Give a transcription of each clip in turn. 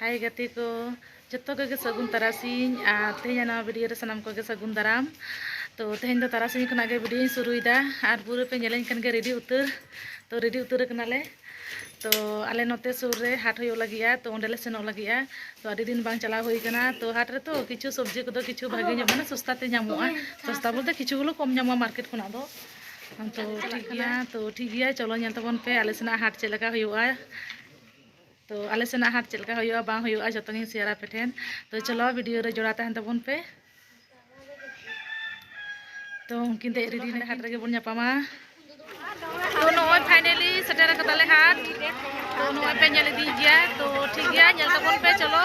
ᱦᱟᱭ ᱜᱟᱛᱮ ᱠᱚ ᱡᱚᱛᱚ ᱠᱚᱜᱮ ᱥᱟᱹᱜᱩᱱ ᱛᱟᱨᱟᱥᱤᱧ ᱟᱨ ᱛᱮᱦᱮᱧ ᱱᱚᱣᱟ ᱵᱷᱤᱰᱤᱭᱳ ᱨᱮ ᱥᱟᱱᱟᱢ ᱠᱚᱜᱮ ᱥᱟᱹᱜᱩᱱ ᱫᱟᱨᱟᱢ ᱛᱚ ᱛᱮᱦᱮᱧ ᱫᱚ ᱛᱟᱨᱟᱥᱤᱧ ᱠᱷᱚᱱᱟᱜ ᱜᱮ ᱵᱷᱤᱰᱤᱭᱳᱧ ᱥᱩᱨᱩᱭᱮᱫᱟ ᱟᱨ ᱯᱩᱨᱟᱹ ᱯᱮ ᱧᱮᱞᱮᱧ ᱠᱟᱱ ᱜᱮ ᱨᱮᱰᱤ ᱩᱛᱟᱹᱨ ᱛᱚ ᱨᱮᱰᱤ ᱩᱛᱟᱹᱨ ᱠᱟᱱᱟᱞᱮ ᱛᱚ ᱟᱞᱮ ᱱᱚᱛᱮ ᱥᱩᱨ ᱨᱮ ᱦᱟᱴ ᱦᱩᱭᱩᱜ ᱞᱟᱹᱜᱤᱫᱼᱟ ᱛᱚ ᱚᱸᱰᱮ ᱞᱮ ᱥᱮᱱᱚᱜ ᱞᱟᱹᱜᱤᱫᱼᱟ ᱛᱚ ᱟᱹᱰᱤ ᱫᱤᱱ ᱵᱟᱝ ᱪᱟᱞᱟᱣ ᱦᱩᱭ ᱠᱟᱱᱟ ᱛᱚ ᱦᱟᱴ ᱨᱮᱛᱚ ᱠᱤᱪᱷᱩ ᱥᱚᱵᱽᱡᱤ ᱠᱚᱫᱚ ᱠᱤᱪᱷᱩ ᱵᱷᱟᱜᱮ ᱧᱚᱜ ᱢᱟᱱᱮ ᱥᱚᱥᱛᱟ ᱛᱮ ᱧᱟᱢᱚᱜᱼᱟ ᱥᱚᱥᱛᱟ ᱵᱚᱞᱛᱮ ᱠᱤᱪᱷᱩ ᱜᱩᱞᱳ ᱠᱚᱢ ᱧᱟᱢᱚᱜᱼᱟ ᱢᱟᱨᱠᱮᱴ ᱠᱷᱚᱱᱟᱜ ᱫᱚ ᱛᱚ ᱴᱷᱤᱠ ᱜᱮᱭᱟ ᱛᱚ ᱴᱷᱤᱠ ᱜᱮᱭᱟ ᱪᱚᱞᱚ ᱧᱮᱞ ᱛᱟᱵᱚᱱ ᱯᱮ ᱟᱞᱮ ᱥᱮᱱᱟᱜ ᱦᱟᱴ ᱪᱮᱫ ᱞᱮᱠᱟ ᱦᱩᱭᱩᱜᱼᱟ ᱛᱚ ᱟᱞᱮ ᱥᱮᱱᱟᱜ ᱦᱟᱴ ᱪᱮᱫ ᱞᱮᱠᱟ ᱦᱩᱭᱩᱜᱼᱟ ᱵᱟᱝ ᱦᱩᱭᱩᱜᱼᱟ ᱡᱚᱛᱚ ᱜᱤᱧ ᱥᱮᱭᱟᱨ ᱟᱯᱮ ᱴᱷᱮᱱ ᱛᱚ ᱪᱚᱞᱚ ᱵᱷᱤᱰᱤᱭᱳ ᱨᱮ ᱡᱚᱲᱟᱣ ᱛᱟᱦᱮᱱ ᱛᱟᱵᱚᱱ ᱯᱮ ᱛᱚ ᱩᱱᱠᱤᱱ ᱫᱮᱡ ᱨᱮᱰᱤ ᱦᱟᱸᱰᱮ ᱦᱟᱴ ᱨᱮᱜᱮ ᱵᱚᱱ ᱧᱟᱯᱟᱢᱟ ᱛᱚ ᱱᱚᱜᱼᱚᱭ ᱯᱷᱟᱭᱱᱟᱞᱤ ᱥᱮᱴᱮᱨ ᱟᱠᱟᱫᱟᱞᱮ ᱦᱟᱴ ᱛᱚ ᱱᱚᱜᱼᱚᱭ ᱯᱮ ᱧᱮᱞ ᱤᱫᱤᱭ ᱜᱮᱭᱟ ᱛᱚ ᱴᱷᱤᱠ ᱜᱮᱭᱟ ᱧᱮᱞ ᱛᱟᱵᱚᱱ ᱯᱮ ᱪᱚᱞᱚ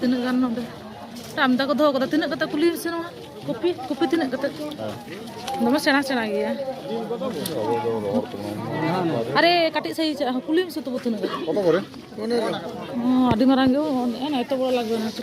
ᱛᱤᱱᱟᱹᱜ ᱜᱟᱱ ᱱᱚᱰᱮ ᱟᱢᱫᱟ ᱠᱚ ᱫᱚᱦᱚ ᱠᱟᱫᱟ ᱛᱤᱱᱟᱹᱜ ᱠᱟᱛᱮ ᱠᱩᱞᱤ ᱥᱮᱱᱚᱜᱼᱟ ᱠᱚᱯᱤ ᱠᱚᱯᱤ ᱛᱤᱱᱟᱹᱜ ᱠᱟᱛᱮ ᱫᱚᱢᱮ ᱥᱮᱬᱟ ᱥᱮᱬᱟ ᱜᱮᱭᱟ ᱟᱨᱮ ᱠᱟᱹᱴᱤᱡ ᱥᱟᱹᱦᱤ ᱪᱟᱜ ᱦᱚᱸ ᱠᱩᱞᱤ ᱢᱮᱥᱮ ᱛᱚᱵᱩ ᱛᱤᱱᱟᱹᱜ ᱠᱟᱛᱮ ᱠᱚᱛᱚ ᱠᱚᱨᱮ ᱢᱟᱱᱮ ᱦᱚᱸ ᱟᱹᱰᱤ ᱢᱟᱨᱟᱝ ᱜᱮ ᱦᱚᱸ ᱮᱛᱚ ᱵᱚᱲᱚ ᱞᱟᱜᱽᱵᱮ ᱱᱟ ᱥᱮ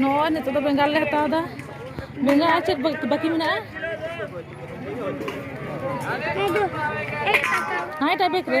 ᱱᱚᱜᱼᱚᱭ ᱱᱤᱛᱚᱜ ᱫᱚ ᱵᱮᱸᱜᱟᱲ ᱞᱮ ᱦᱟᱛᱟᱣ ᱮᱫᱟ ᱵᱮᱸᱜᱟᱲ ᱟᱨ ᱪᱮᱫ ᱵᱟᱹᱠᱤ ᱢᱮᱱᱟᱜᱼᱟ ᱦᱮᱸ ᱮᱴᱟᱜ ᱵᱮᱜᱽ ᱨᱮ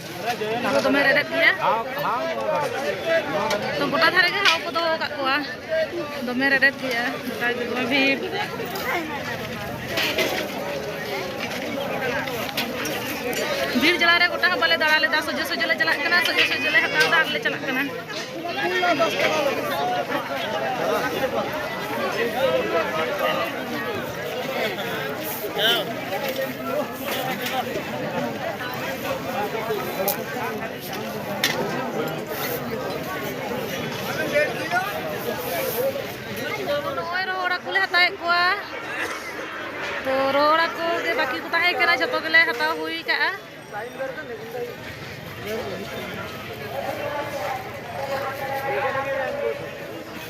ᱫᱚ ᱫᱚᱢᱮ ᱨᱮᱰᱮᱫ ᱜᱮᱭᱟ ᱛᱚ ᱜᱚᱴᱟ ᱫᱷᱟᱨᱮ ᱜᱮ ᱦᱟᱣ ᱠᱚ ᱫᱚᱦᱚ ᱟᱠᱟᱫ ᱠᱚᱣᱟ ᱫᱚᱢᱮ ᱨᱮᱰᱮᱫ ᱜᱮᱭᱟ ᱜᱚᱴᱟ ᱜᱮ ᱫᱚᱢᱮ ᱵᱷᱤᱲ ᱵᱷᱤᱲ ᱡᱟᱞᱟ ᱨᱮ ᱜᱚᱴᱟ ᱦᱚᱸ ᱵᱟᱞᱮ ᱫᱟᱬᱟ ᱞᱮᱫᱟ ᱥᱚᱡᱷᱮ ᱥᱚᱡᱷᱮ ᱞᱮ ᱪᱟᱞᱟᱜ ᱠᱟᱱᱟ ᱥᱚᱡᱷᱮ ᱥᱚᱡᱷᱮ ᱞᱮ ᱦᱟᱛᱟᱣ ᱮᱫᱟ ᱟᱨ ᱞᱮ ᱪᱟᱞᱟᱜ ᱠᱟᱱᱟ ᱱᱚᱜᱼᱚᱭ ᱨᱚᱦᱚᱲ ᱦᱟᱹᱠᱩ ᱞᱮ ᱦᱟᱛᱟᱣᱮᱫ ᱠᱚᱣᱟ ᱛᱚ ᱨᱚᱦᱚᱲ ᱦᱟᱹᱠᱩ ᱜᱮ ᱵᱟᱹᱠᱤ ᱠᱚ ᱛᱟᱦᱮᱸ ᱠᱟᱱᱟ ᱡᱚᱛᱚ ᱜᱮᱞᱮ ᱦᱟᱛᱟᱣ ᱦᱩᱭ ᱠᱟᱜᱼᱟ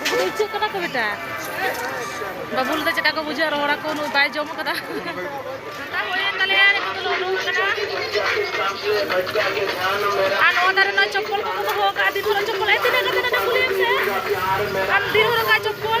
ᱩᱱᱠᱩ ᱫᱚ ᱤᱪᱟᱹᱜ ᱠᱟᱱᱟ ᱠᱚ ᱵᱮᱴᱟ ᱵᱟᱹᱵᱩ ᱞᱮᱫᱟ ᱪᱮᱫᱠᱟ ᱠᱚ ᱵᱩᱡᱷᱟᱹᱜᱼᱟ ᱨᱚᱲ ᱟᱠᱚ ᱩᱱᱟᱹᱜ ᱵᱟᱭ ᱡᱚᱢ ᱠᱟᱫᱟ ᱟᱨ ᱱᱚᱣᱟ ᱫᱟᱨᱮ ᱨᱮᱱᱟᱜ ᱪᱚᱯᱯᱚᱞ ᱠᱚᱠᱚ ᱫᱚᱦᱚ ᱟᱠᱟᱫᱼᱟ ᱫᱤᱱ ᱦᱚᱨᱚᱜ ᱪᱚᱯᱯᱚᱞ ᱛᱤᱱᱟᱹᱜ ᱠᱟᱛᱮ ᱱᱚᱰᱮ ᱠᱩᱞᱤᱭᱮᱢ ᱥᱮ ᱟᱢ ᱫᱤᱱ ᱦᱚᱨᱚᱜᱟ ᱪᱚᱯᱯᱚᱞ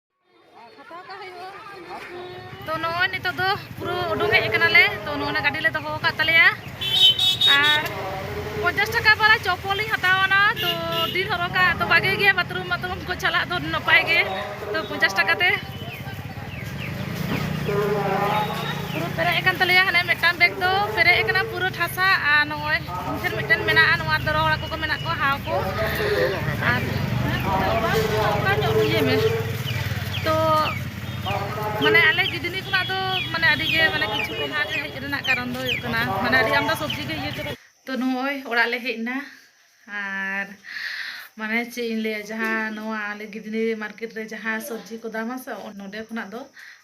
ᱛᱚ ᱱᱚᱜᱼᱚᱭ ᱱᱤᱛᱚᱜ ᱫᱚ ᱯᱩᱨᱟᱹ ᱩᱰᱩᱝ ᱦᱮᱡ ᱠᱟᱱᱟᱞᱮ ᱛᱚ ᱱᱚᱜᱼᱚᱭ ᱜᱟᱹᱰᱤ ᱞᱮ ᱫᱚᱦᱚ ᱟᱠᱟᱫ ᱛᱟᱞᱮᱭᱟ ᱟᱨ ᱯᱚᱧᱪᱟᱥ ᱴᱟᱠᱟ ᱵᱟᱞᱟ ᱪᱚᱯᱚᱞ ᱤᱧ ᱦᱟᱛᱟᱣᱟᱱᱟ ᱛᱚ ᱫᱤᱱ ᱦᱚᱨᱚᱜᱟ ᱛᱚ ᱵᱷᱟᱜᱮ ᱜᱮᱭᱟ ᱵᱟᱛᱷᱨᱩᱢ ᱵᱟᱛᱷᱨᱩᱢ ᱠᱚ ᱪᱟᱞᱟᱜ ᱫᱚ ᱱᱟᱯᱟᱭ ᱜᱮ ᱛᱚ ᱯᱚᱧᱪᱟᱥ ᱴᱟᱠᱟ ᱛᱮ ᱯᱩᱨᱟᱹ ᱯᱮᱨᱮᱡ ᱟᱠᱟᱱ ᱛᱟᱞᱮᱭᱟ ᱦᱟᱱᱮ ᱢᱤᱫᱴᱟᱝ ᱵᱮᱜᱽ ᱫᱚ ᱯᱮᱨᱮᱡ ᱟᱠᱟᱱᱟ ᱯᱩᱨᱟᱹ ᱴᱷᱟᱥᱟ ᱟᱨ ᱱᱚᱜᱼᱚᱭ ᱯᱷᱟᱱᱥᱮᱱ ᱢᱤᱫᱴᱮᱱ ᱢᱮᱱᱟᱜᱼᱟ ᱱᱚᱣᱟ ᱫᱚ ᱨᱚᱦᱚᱲ ᱦᱟᱹᱠᱩ ᱠᱚ ᱢᱮᱱᱟᱜ ᱠᱚᱣᱟ ᱦᱟᱣ ᱠᱚ ᱟᱨ ᱚᱱᱠᱟ ᱧᱚᱜ ᱤᱭᱟᱹ ᱢᱮ ᱛᱚ ᱢᱟᱱᱮ ᱟᱞᱮ ᱜᱤᱫᱽᱱᱤ ᱠᱷᱚᱱᱟᱜ ᱫᱚ ᱢᱟᱱᱮ ᱟᱹᱰᱤ ᱜᱮ ᱢᱟᱱᱮ ᱠᱤᱪᱷᱩ ᱚᱱᱟ ᱨᱮ ᱦᱮᱡ ᱨᱮᱱᱟᱜ ᱠᱟᱨᱚᱱ ᱫᱚ ᱦᱩᱭᱩᱜ ᱠᱟᱱᱟ ᱢᱟᱱᱮ ᱟᱹᱰᱤ ᱟᱢᱫᱟ ᱥᱚᱵᱽᱡᱤ ᱜᱮ ᱤᱭᱟᱹ ᱪᱟᱵᱟ ᱛᱚ ᱱᱚᱜᱼᱚᱭ ᱚᱲᱟᱜ ᱞᱮ ᱦᱮᱡ ᱮᱱᱟ ᱟᱨ ᱢᱟᱱᱮ ᱪᱮᱫ ᱤᱧ ᱞᱟᱹᱭᱟ ᱡᱟᱦᱟᱸ ᱱᱚᱣᱟ ᱟᱞᱮ ᱜᱤᱫᱽᱱᱤ ᱢᱟᱨᱠᱮᱴ ᱨᱮ ᱡᱟᱦᱟᱸ ᱥᱚᱵᱽᱡᱤ ᱠᱚ ᱫᱟᱢᱟ ᱥᱮ ᱱᱚᱰᱮ ᱠᱷᱚᱱᱟᱜ ᱫᱚ